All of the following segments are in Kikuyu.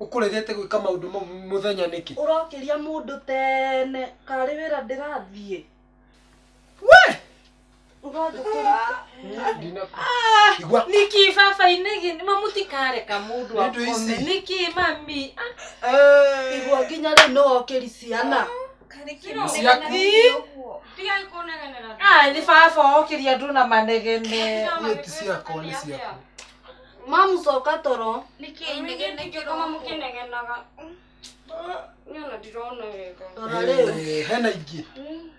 Ũkũregete gwĩka maũndũ mau mũthenya nĩkĩ? Ũrokĩria mũndũ tene, karĩ wĩra ndĩrathiĩ. We! Ũrathiĩ kũruta. Ndinakũ. Igua. Nĩkĩ baba-inĩ gĩ- ma mũtikareka mũndũ Nĩ ũndũ akome. ici. Nĩkĩ mami? Ah, Eh. Igua nginya rĩu nĩ wokĩri ciana. Ciaku. Tigai kũnegenera. Ah, nĩ baba okĩria andũ na manegene. Niĩ ti ciakwa nĩ ciaku. Mamũcoka toro. Nĩkĩ ngoma mũkĩnegenaga? Niĩ ona ndirona wega. Rora rĩu. Eh, hena ingĩ. Hmm.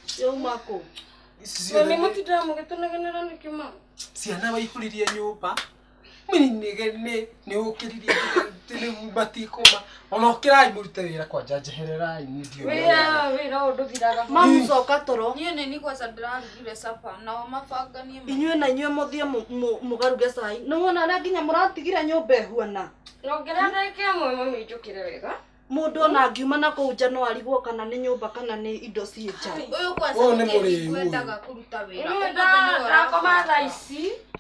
Ciauma kũ? Ici ciothe. Nĩ mũtindĩra mũgĩtũnegenera nĩkĩ ma? Ciana waihũririe nyũmba. Nĩ ũkĩrire nĩ matikũma. Ona ũkĩrai mũrute wĩra kwanja njehererai niĩ ndiũĩ. Wĩra wĩra ũyũ ndũthiraga. Mamu coka toro. Niĩ nĩ ni kwanza ndĩrarugire supper nao mabanga niĩ. Inyuĩ na inyuĩ mũthiĩ mũgaruge cai. Nĩ wona ũrĩa nginya mũratigire nyũmba ĩhuana. Nyongerera ndagĩka ĩmwe mami njũkĩre wega. Mũndũ ona angiuma na kũu nja no arigwo kana nĩ nyũmba kana nĩ indo ciĩ nja. Ũyũ kwanza nĩ mũrĩu ũyũ. Ndakoma thaa ici.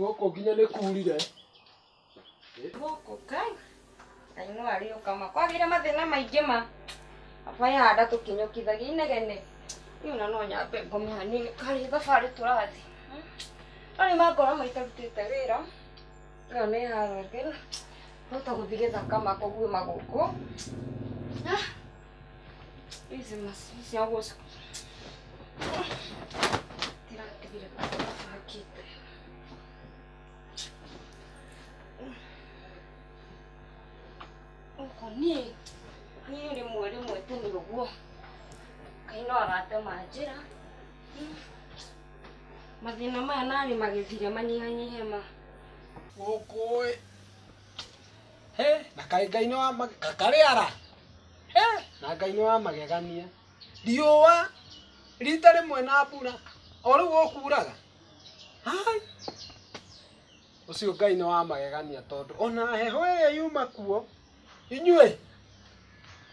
gũkũ nginya nĩ kurire gũkũ kai kaimũ arĩ ũkama kwagĩire mathĩna maingĩ ma baba yahanda tũkinyũkithagia inegene rĩu na no nyambe ngome hanini karĩ thabarĩ tũrathiĩ rarĩ mangora maitarutĩte wĩra Ĩno nĩ harũ ĩngĩ, twahota gũthiĩ gĩthaka ma kũguĩ ma gũkũ. Ici macini cia gũcina itirandigĩrĩra ibangĩte. Gũkũ niĩ, niĩ rĩmwe rĩmwe tene ũguo, Ngai no aratema njĩra. Mathĩna maya narĩ magĩthira manyihanyihe ma. Gũkũĩ. Hĩ! Na kaĩ Ngai nĩ wa magegania. Karĩara! Hĩ! Na Ngai nĩ wa magegania. Riũa rita rĩmwe na mbura. O rĩu gũkuuraga? Hai! Ũcio Ngai nĩ wa magegania tondũ o na heho ĩrĩa yuma kuo. inyuĩ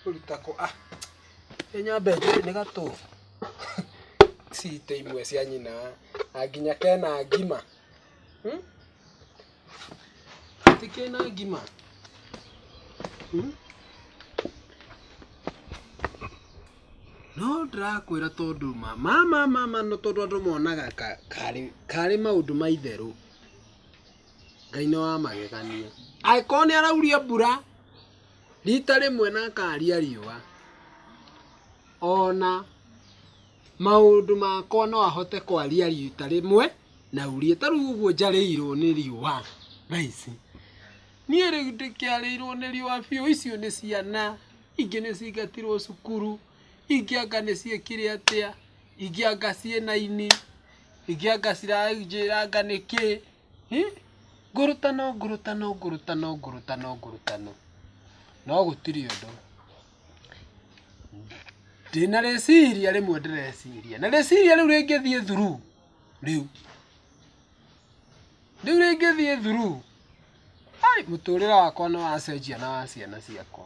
kũruta kũ ah nĩ nyambe njũĩ nĩ gatũ citĩ imwe cia nyina na nginya kena ngima hmm? ti kena ngima hmm? no ndĩrakwĩra tondũ ma ma ma ma ma no tondũ andũ monaga ka- karĩ karĩ maũndũ ma itherũ Ngai nĩ wa magegania. Angĩkorwo nĩ arauria mbura rita rĩmwe na akaria riũa, ona maũndũ makwa no ahote kwaria rita rĩmwe na aurie. Ta rĩu ũguo njarĩirwo nĩ riũa thaa ici, niĩ rĩu ndĩkĩarĩirwo nĩ riũa biũ, icio nĩ ciana, ingĩ nĩ cingatirwo cukuru, ingĩ anga nĩ ciĩkire atĩa, ingĩ anga ciĩ na ini. Ingĩanga ciranjĩranga nĩkĩ? Hi! Ngũrũtano, ngũrũtano, ngũrũtano, ngũrũtano, ngũrũtano. No gũtirĩ ũndũ. Ndĩna rĩciria rĩmwe ndĩreciria. Na rĩciria rĩu rĩngĩthiĩ through rĩu. Rĩu rĩngĩthiĩ through, hai mũtũrĩre wakwa nĩ wacenjia na wa ciana ciakwa.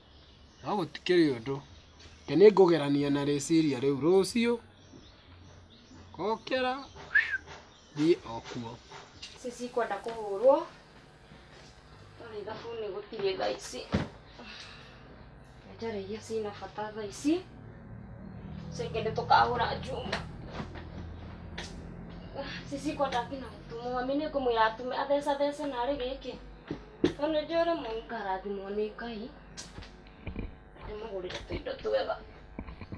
No gũtikĩrĩ ũndũ. Reke nĩ ngũgerania na rĩciria rĩu rũciũ, ngokĩra thiĩ o kuo. Ici cikwenda kũhũrwo, no nĩ thabuni gũtirĩ thaa ici. Njarĩ iria ciĩna bata thaa ici, icio ingĩ nĩ tũkahũra njuma. Ici cikwenda nginya gũtumwo. Mami nĩ ngũmwĩra atume, athecathece narĩ gĩkĩ. Tondũ nĩ njũĩ rĩmwe ngarathimwo nĩ Ngai ndĩmũgũrĩre tũindo twega.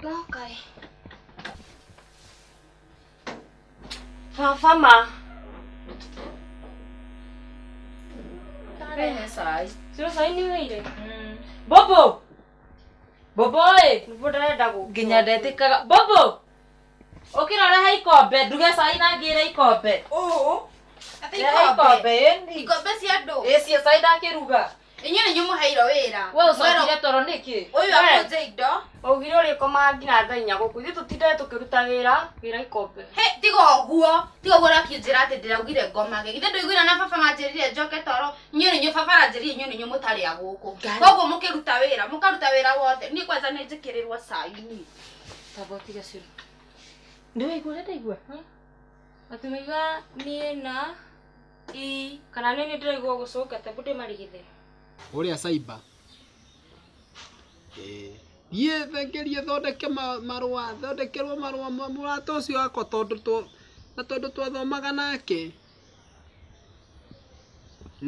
No Ngai. Baba ma. Ndĩrehe cai. Ciro cai nĩ ũheire? Bobo! Bobo ĩ! Nĩguo ndarenda gũkua. Nginya ndetĩkaga. Bobo! Ũkĩra ũrehe ikombe, nduge cai na ngĩre ikombe. Ũũ. Atĩ Rehe ikombe. ikombe, ĩni. Ikombe cia andũ. Ĩcie cai ndakĩruga. Inyuĩ nĩ nyũmũheirwo wĩra. We ũcokire toro nĩkĩ? Ũyũ akũnje indo. Ũgire ũrĩkomaga nginya thaa inya gũkũ. Ithuĩ tũtindaga tũkĩruta wĩra, wĩra ikombe. He, tiga ũguo. Tiga ũguo ũrakĩnjĩra atĩ ndĩraugire ngomage. Githĩ ndũiguire na baba manjĩrire njoke toro? Inyuĩ nĩ inyuĩ baba aranjĩrire inyuĩ nĩ inyuĩ mũtarĩ a gũkũ. Koguo mũkĩruta wĩra, mũkaruta wĩra wothe. Niĩ kwanja nĩ njĩkĩrĩrwo cai niĩ. tamba ũtige cũrũ nĩ waigua ũrĩa ndaigua atĩ waigua niĩ na i kana niĩ nĩ ndĩraigua gũcũnga tamba ndĩmarigithe ũrĩa caiba thiĩ thengerie thondeke ma- marũa thondekerwo marũa ma mũrata ũcio wakwa tondũ twa- na tondũ twathomaga nake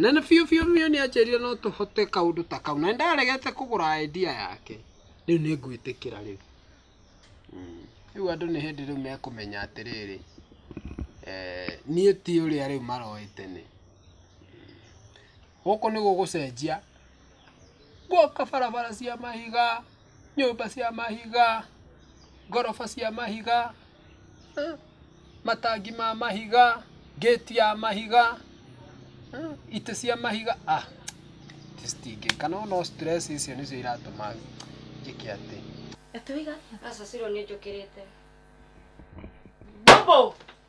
na nĩ biũ biũ biũ nĩ anjĩrire no tũhote kaũndũ ta kau na ndaregete kũgũra idea yake rĩu nĩ ngwĩtĩkĩra rĩu Mm. rĩu andũ nĩ hĩndĩ rĩu mekũmenya atĩrĩrĩ eh, niĩ ti ũrĩa rĩu maroĩ tene gũkũ nĩ gũgũcenjia. Gũka barabara cia mahiga, nyũmba cia mahiga, ngoroba cia mahiga, matangi ma mahiga, gate ya mahiga, itĩ cia mahiga, ah citingĩka. Nĩ wona stress icio nĩcio iratũma njĩke atĩ. Aca ciro nĩ njũkĩrĩte. Bobo!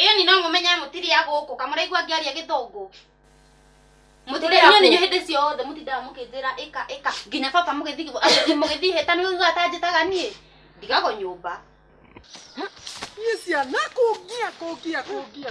Ĩyoni no mũmenye mũtirĩ a gũkũ kamũraigua ngĩaria gĩthũngũ mũtirĩinyo ninyo hĩndĩ ciothe mũtindaga mũkĩnjĩra ĩka ĩka nginya baba mũgĩthiĩ mũgĩthiĩ hĩta nĩ ũiguaga ta njĩtaga niĩ ndigagwo nyũmba niĩ ciana kũngia kũngia kũngia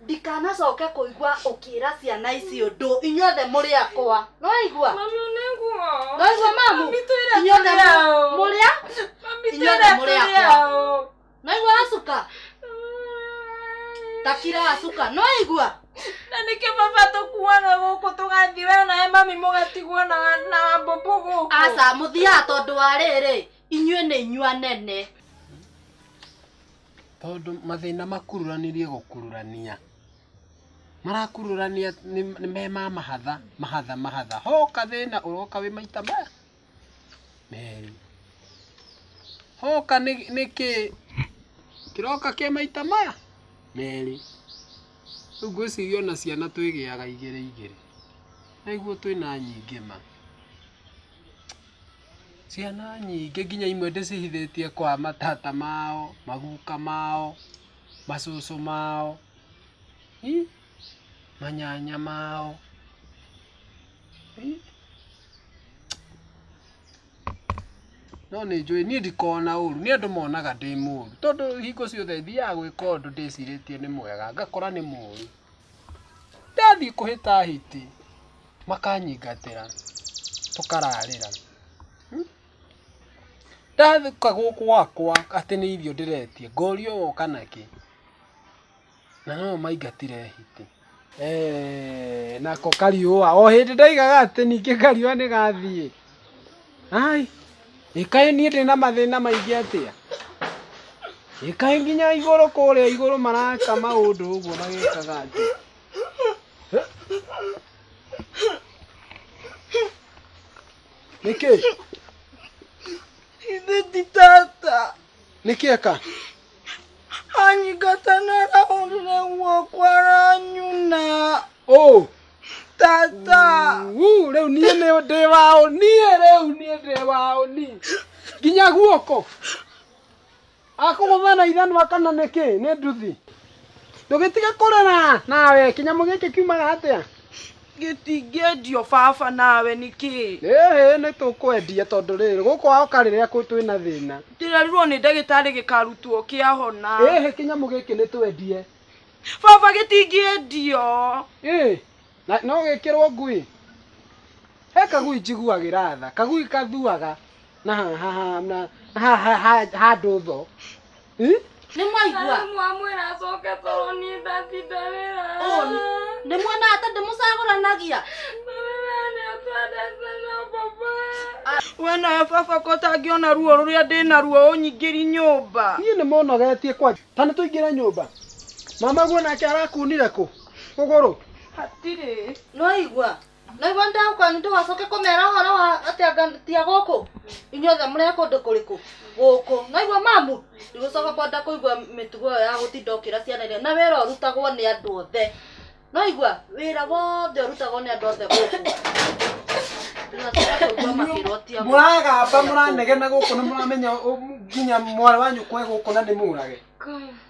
ndikanacoke kũigua ũkĩra ciana ici ũndũ inyuothe mũrĩ akwa nĩwaigua Mami nĩguo. nĩwaigua mamu Mami twĩre inyuothe tũrĩ mũ- aũ. mũrĩa Mami inyuothe twĩre mũrĩ tũrĩ akwa. aũ. nĩwaigua acuka takira acuka nĩwaigua na nĩkĩ baba tũkuaga gũkũ tũgathiĩ we nawe mami mũgatigwo na wa- na wambũmbũ gũkũ aca mũthiaga tondũ wa rĩrĩ inyuĩ nĩ inyua nene Tondũ mathĩna makururanĩrie gũkururania. Marakururania me ma mahatha, mahatha, mahatha. Hoka thĩna ũroka wĩ maita maya merĩ. Hoka nĩ nĩ kĩ kĩroka kĩ maita maya merĩ. Rĩu ngwĩciria ona ciana twĩgĩaga igĩrĩ igĩrĩ. Nĩguo twĩna nyingĩ ma. Ciana nyingĩ nginya imwe ndĩcihithĩtie kwa matata mao, maguka mao, macũcũ mao, manyanya mao. No nĩ njũĩ, niĩ ndikoragwo na ũru, nĩ andũ monaga ndĩ mũru. Tondũ hingo ciothe thiaga gwĩka ũndũ ndĩcirĩtie nĩ mwega, ngakora nĩ mũru. Ndathiĩ kũhĩta hiti. makanyingatĩra tũkararĩra. Ndathiĩ gũkũ gwakwa atĩ nĩ irio ndĩretia ngorio woka nakĩ? Na no maingatire hiti. Eeh nako kariũa o hĩndĩ ndaigaga atĩ ningĩ kariũa nĩ gathiĩ. Ai, ĩ kaĩ niĩ ndĩ na mathĩna maingĩ atĩa? Ĩ kaĩ nginya igũrũ kũrĩa igũrũ maraka maũndũ ũguo magĩkaga atĩ? nĩkĩ ithe ti tata nĩkĩ eka anyingata na rahũrire guoko aranyuna ũ tata Uu, rĩu niĩ nĩ ndĩ wa ũni rĩu niĩ ndĩ wa ũni nginya guoko akũgũtha na ithanwa kana nĩkĩ nĩ nduthi ndũgĩtige kũrĩra nawe kĩnyamũ gĩkĩ kiumaga atĩa gĩtingĩendio baba nawe nĩkĩ ĩhĩ nĩ tũkwendia tondũ rĩrĩ gũkũ waoka rĩrĩa kũ- twĩ na thĩna ndĩrerirwo nĩ ndagĩtarĩ gĩkarutwo kĩahona ĩhĩ kĩnyamũ gĩkĩ nĩ twendie baba gĩtingĩendio ĩ Na no gĩkĩrwo ngui? He kagui njiguagĩra tha, kagui kathuaga na haha na haha handũ tho. Nĩ mwaigua? Mwamwĩra acoke toro niĩ ndatinda wĩra. Nĩ muona ata ndĩmũcagũranagia? Wena baba ko tangĩona ruo rũrĩa ndĩna ruo ũnyingĩri nyũmba. Niĩ nĩ mũnogetie kwanja. Ta nĩ tũingĩre nyũmba. Mamaguo nake arakunire kũ? kũgũrũ hatirĩ noigua noigua ndau kwanyu ndũgacoke kũmera ũhoro wa atĩ anga tia gũkũ inyuothe mũrĩ a kũndũ kũrĩkũ gũkũ noigua mamu ndigũcoka kwenda kũigua mĩtugo ĩyo ya gũtinda ũkĩra ciana iria na wĩra ũrutagwo nĩ andũ othe noigua wĩra wothe ũrutagwo nĩ andũ othe gũkũ ndũgacoka kũigua makĩrwo tia gũkũ mũragamba mũranegena gũkũ na mũramenya ũ- nginya mwarĩ wa nyũkwa e gũkũ na nĩ mũrage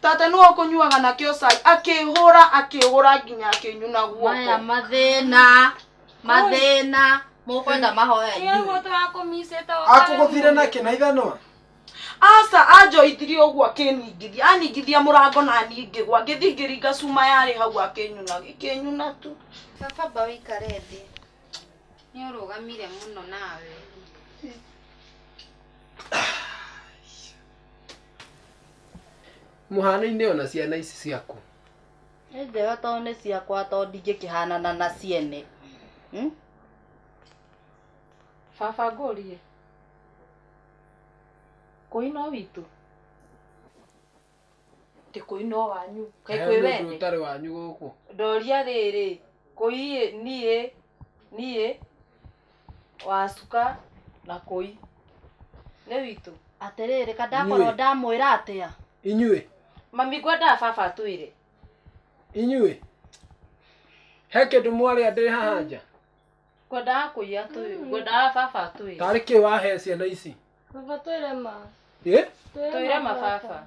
Tata nĩwe ũkũnyuaga nakĩo cai. Akĩhũra, akĩgũra nginya akĩnyuna maya guoko. mathĩna mathĩna mũkwenda mahoya Ĩĩ, inyuĩ mũtwe wakwa ũmicĩte o kare akũgũthire mũno. na kĩ na ithanwa Aca anjoithirie ũguo akĩningithia. Aningithia mũrango na niĩ ngĩgwa. Ngĩthiĩ ngĩringa cuma yarĩ hau akĩnyuna. Gĩkĩnyuna tu. Baba amba wĩikare thĩ. Nĩ ũrũgamire mũno nawe. mũhano-inĩ ona ciana ici ciaku nĩ njega tondũ nĩ ciakwa tondũ ndingĩkĩhanana na ciene Hmm? baba ngũrie kũi no witũ ndĩ kũi no wanyu kaĩ He kũi mũndũ wene ũtarĩ wanyu gũkũ ndoria rĩrĩ kũi niĩ niĩ wa cuka na kũi nĩ witũ atĩrĩrĩ kandakorwo ndamwĩra atĩa inyuĩ mami ngwendaga baba atwĩre inyuĩ he kĩndũ mwarĩa ndĩ haha nja ngwendaga kũiya atwĩre ngwendaga baba atwĩre tarĩ kĩ wahe ciana ici baba twĩre ma twĩre ma baba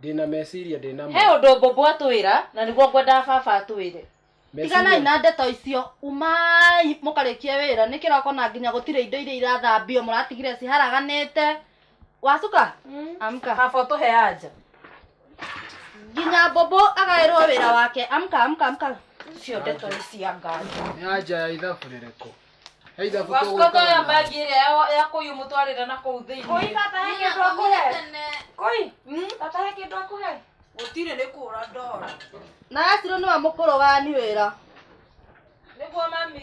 ndĩna meciria ndĩna he ũndũ mbũmbũ atwĩra na nĩguo ngwendaga baba atwĩre tiganai na ndeto icio umai mũkarĩkie wĩra nĩ kĩroko na nginya gũtirĩ indo iria irathambio mũratigire ciharaganĩte wacuka mm. amka baba ũtũhe anja nginya mbũmbũ agaĩrwo wĩra wake amka amka amka cio ndeto nĩ cia nganja nĩ anja ya ithabu rĩrĩkũ Heitha buka Wasko to ya bagi ĩrĩa ya- ya kũyũ mũtwarĩre na kũu thĩinĩ Koi tata he Nina, kĩndũ akũhe. kũmire tene. Koi, tata he kĩndũ akũhe. gũtirĩ nĩ kũra ndora na acirwo nĩwe mũkũrũ wani wĩra nĩguo mami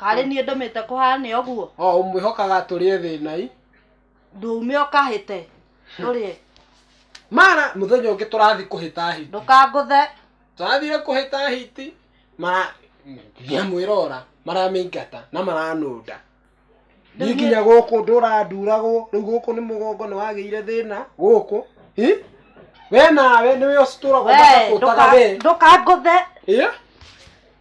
karĩ niĩ ndũmĩte kũhane ũguo o ũmwĩhokaga tũrĩe thĩnai ndũume ũkahĩte tũrĩe mara mũthenya ũngĩ tũrathiĩ kũhĩta hiti ndũkangũthe tũrathire kũhĩta hiti mara ndiamwĩrora maramĩingata na maranũnda Rĩu niĩ niĩ- nginya gũkũ ndũranduragwo rĩu gũkũ nĩ mũgongo nĩ wagĩire thĩna gũkũ Hi? we nawe nĩwe ũcitũragwo we makakũtaga we ndũka- ndũkangũthe Ĩ?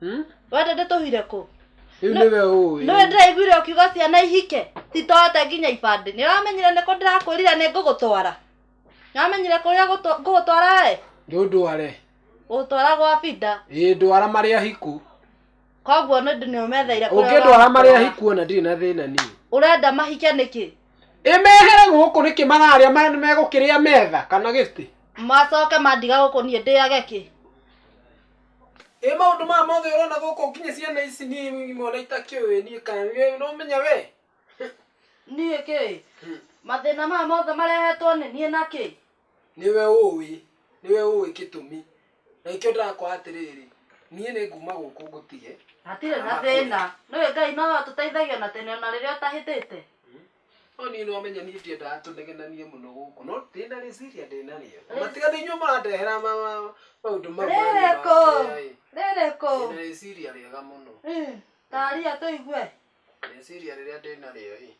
Hmm? wende ndĩtũhire kũ rĩu nĩwe ũĩ nĩwe ndĩraiguire ũkiuga ciana ihike titote nginya ibandĩ nĩ ũramenyire nĩkũ ndĩrakwĩrire nĩ ngũgũtwara nĩ ũramenyire kũrĩa gũtwa- ngũgũtwara we ndũndware gũgũtwara gwa binda ĩĩ ndwara marĩa hiku koguo nĩ ndĩ- nĩ ũmetheire kũrĩa ũngĩndwara marĩa ũramũtwara. hiku ona ndirĩ na thĩna niĩ ũrenda mahike nĩkĩ ĩmehere gũkũ nĩkĩ mararĩa ma- nĩ megũkĩrĩa metha kana gĩtĩ macoke mandiga gũkũ niĩ ndĩage kĩ Ĩ maũndũ maya mothe ũrona gũkũ nginya ciana ici niĩ imwe ona itakĩũĩ niĩ kana nĩ ũramenya we niĩ kĩ mathĩna maya mothe marehetwo nĩ niĩ na kĩ nĩwe ũĩ nĩwe ũĩ gĩtũmi na nĩkĩo ndĩrakwĩra atĩrĩrĩ niĩ nĩ nguma gũkũ ngũtige hatirĩ na thĩna nĩũĩ Ngai no atũteithagia ona tene ona rĩrĩa ũtahĩtĩte No niĩ nĩ wamenya niĩ ndiendaga tũnegenanie mũno gũkũ no ndĩ na rĩciria ndĩ narĩo Na matiga nĩ inyuĩ mũrandehera ma- ma- maũndũ mau manyu ma Rĩrĩkũ? kĩeha ĩ. Rĩrĩkũ? Ndĩ na rĩciria rĩega mũno Mm, Taria tũigue. rĩciria rĩrĩa ndĩ narĩo ĩ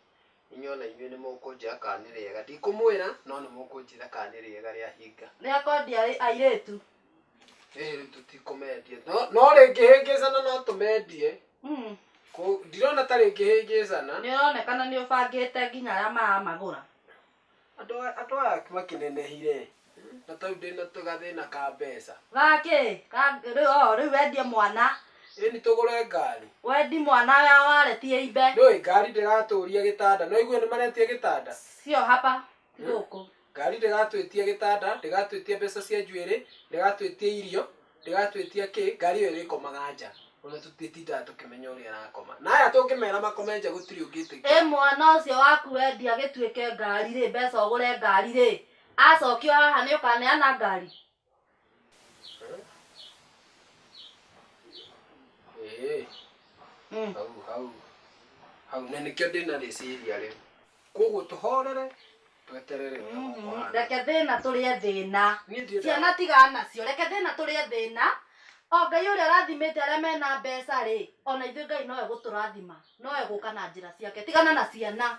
inyuĩ ona inyuĩ nĩ mũkũnjĩra kana nĩ rĩega ndikũmwĩra no nĩ mũkũnjĩra kana nĩ rĩega rĩahinga Rĩa kwendia airĩtu. Rĩrĩ tũtikũmendia no no rĩngĩhĩngĩcana no tũmendie Mm. Kũ- ndirona ta rĩngĩhĩngĩcana nĩ ũronekana nĩ ũbangĩte nginya arĩa maramagũra andũ aya- andũ aya makĩnenehire na tau ndĩna gathĩna ka mbeca gakĩ Ga- rĩu oo, rĩu wendie mwana ĩni tũgũre ngari wendi mwana wa waretie imbe nĩũĩ ngari ndĩratũria gĩtanda no igue nĩ maretia gĩtanda sio hapa ti gũkũ Ngari ndĩratwĩtia gĩtanda, ndĩgatwĩtia mbeca cia njuĩrĩ, ndĩgatwĩtia irio, ndĩgatwĩtia kĩ, ngari ĩyo ĩrĩkomaga nja, ona tũtitindaga tũkĩmenya ũrĩa ĩrakoma. Na aya tũngĩmera makome nja gũtirĩ ũngĩtĩkia. Ĩ mwana ũcio waku wendia gĩtuĩke ngari-rĩ, mbeca ũgũre ngari-rĩ, acokio haha nĩũkaneana ngari? Eh, Mm. hau hau hau na nĩkĩo ndĩna rĩciria rĩu koguo tũhorere tweterere wega Mhm. ũkũhana. reke thĩna tũrĩe thĩna Niĩ ndiĩ ciana nda- tiga nacio reke thĩna tũrĩe thĩna o ngai ũrĩa ũrathimĩte arĩa mena mbeca rĩ ona ithuĩ ngai nowe gũtũrathima nowe gũka na njĩra ciake tigana na ciana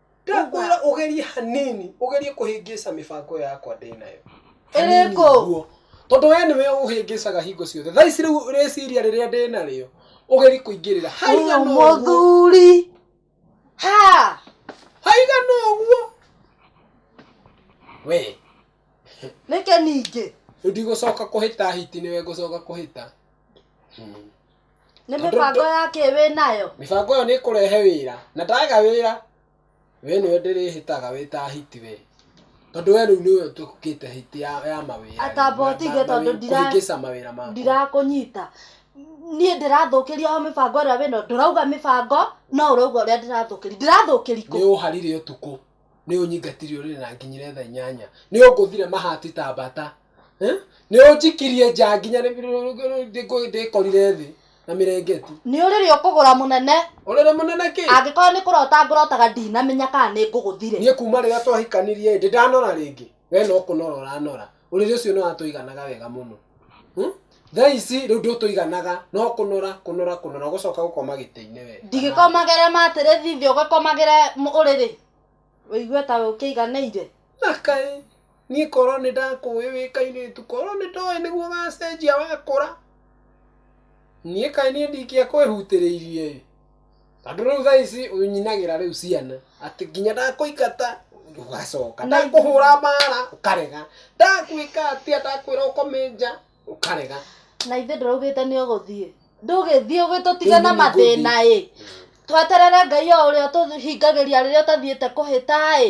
ndakwĩra ũgerie hanini ũgerie kũhĩngĩca mĩbango yakwa ndĩ nayo Hanini Ĩrĩkũ? ũguo. tondũ we nĩwe ũhĩngĩcaga hingo ciothe thaa ici rĩu rĩciria rĩrĩa ndĩ narĩo ũgerie kũingĩrĩra haigana ũguo mũthuri ha haigana ũguo we nĩke ningĩ rĩu ndigũcoka kũhĩta hiti nĩwe ngũcoka kũhĩta Hmm. nĩ mĩbango ya kĩ wĩ nayo mĩbango ĩyo nĩ ĩkũrehe wĩra na ndaga wĩra we nĩwe ndĩrĩhĩtaga wĩ ta hiti we tondũ we rĩu nĩwe ũtũkĩte hiti ya, ya mawĩra Atamba ũtige tondũ ndira- kũhingĩca mawĩra maku ndirakũnyita niĩ ndĩrathũkĩria o mĩbango ĩrĩa wĩno ndũrauga mĩbango no ũrauga ũrĩa ndĩrathũkĩria ndĩrathũkĩri nĩ kũ ũharire ũtukũ nĩ ũnyingatirie ũrĩrĩ na nginyire tha inyanya nĩ ũngũthire mahati ta mbata eh? nĩ ũnjikirie nja nginya nĩ- nĩ- nĩ- nĩ- ndĩkorire thĩ na mĩrengeti nĩ ũrĩrĩ ũkũgũra mũnene ũrĩrĩ mũnene kĩ angĩkorwo nĩ kũrota ngũrotaga ndinamenya kana nĩ ngũgũthire niĩ kuma rĩrĩa twahikanirie ndĩ ndanora rĩngĩ we no kũnora ũranora Ũrĩrĩ ũcio nĩ watũiganaga wega mũno. Thaa ici rĩu ndũtũiganaga, no kũnora, kũnora, kũnora, gũcoka gũkoma gĩtĩ-inĩ we. Ndingĩkomagĩra mattress thĩ ũgĩkomagĩra ũrĩrĩ? Wĩigue ta we ũkĩiganĩire? Na kaĩ! Niĩ korwo nĩ ndakũĩ wĩ kairĩtu, korwo nĩ ndoĩ nĩguo ũgacenjia wakũra, niĩ kaĩ niĩ ndingĩakwĩhutĩrĩirie-ĩ! Tondũ rĩu thaa ici ũnyinagĩra rĩu ciana atĩ nginya ndakũingata ũgacoka, ndakũhũra mbara ũkarega, ndakwĩka atĩa, ndakwĩra ũkome nja ũkarega. Na ithe ndũraugĩte nĩ ũgũthiĩ, ndũgĩthiĩ ũgĩtũtiga na mathĩna ĩ, tweterere Ngai o ũrĩa ũtũhingagĩria rĩrĩa ũtathiĩte kũhĩta ĩ.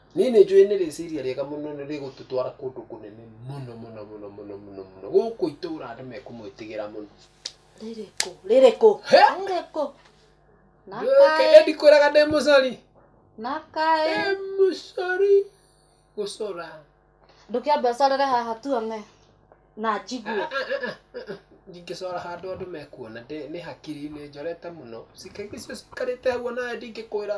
Niĩ nĩ njũĩ nĩ rĩciria rĩega mũno na rĩgũtũtwara kũndũ kũnene mũno mũno mũno mũno mũno mũno. Gũkũ itũra andũ mekũmwĩtigĩra mũno. Rĩrĩ kũ? Rĩrĩ kũ? He? Rĩrĩ kũ? Na Reke kaĩ, ndikwĩraga ndĩ mũcori. na kaĩ. Ndĩ mũcori gũcora. Ndũkĩambe ũcorere haha tuone na njigue. Ndingĩcora handũ andũ mekuona. Ndĩ nĩ hakiri-inĩ njorete mũno. Ciĩga icio cikarĩte hau o nawe ndingĩkwĩra.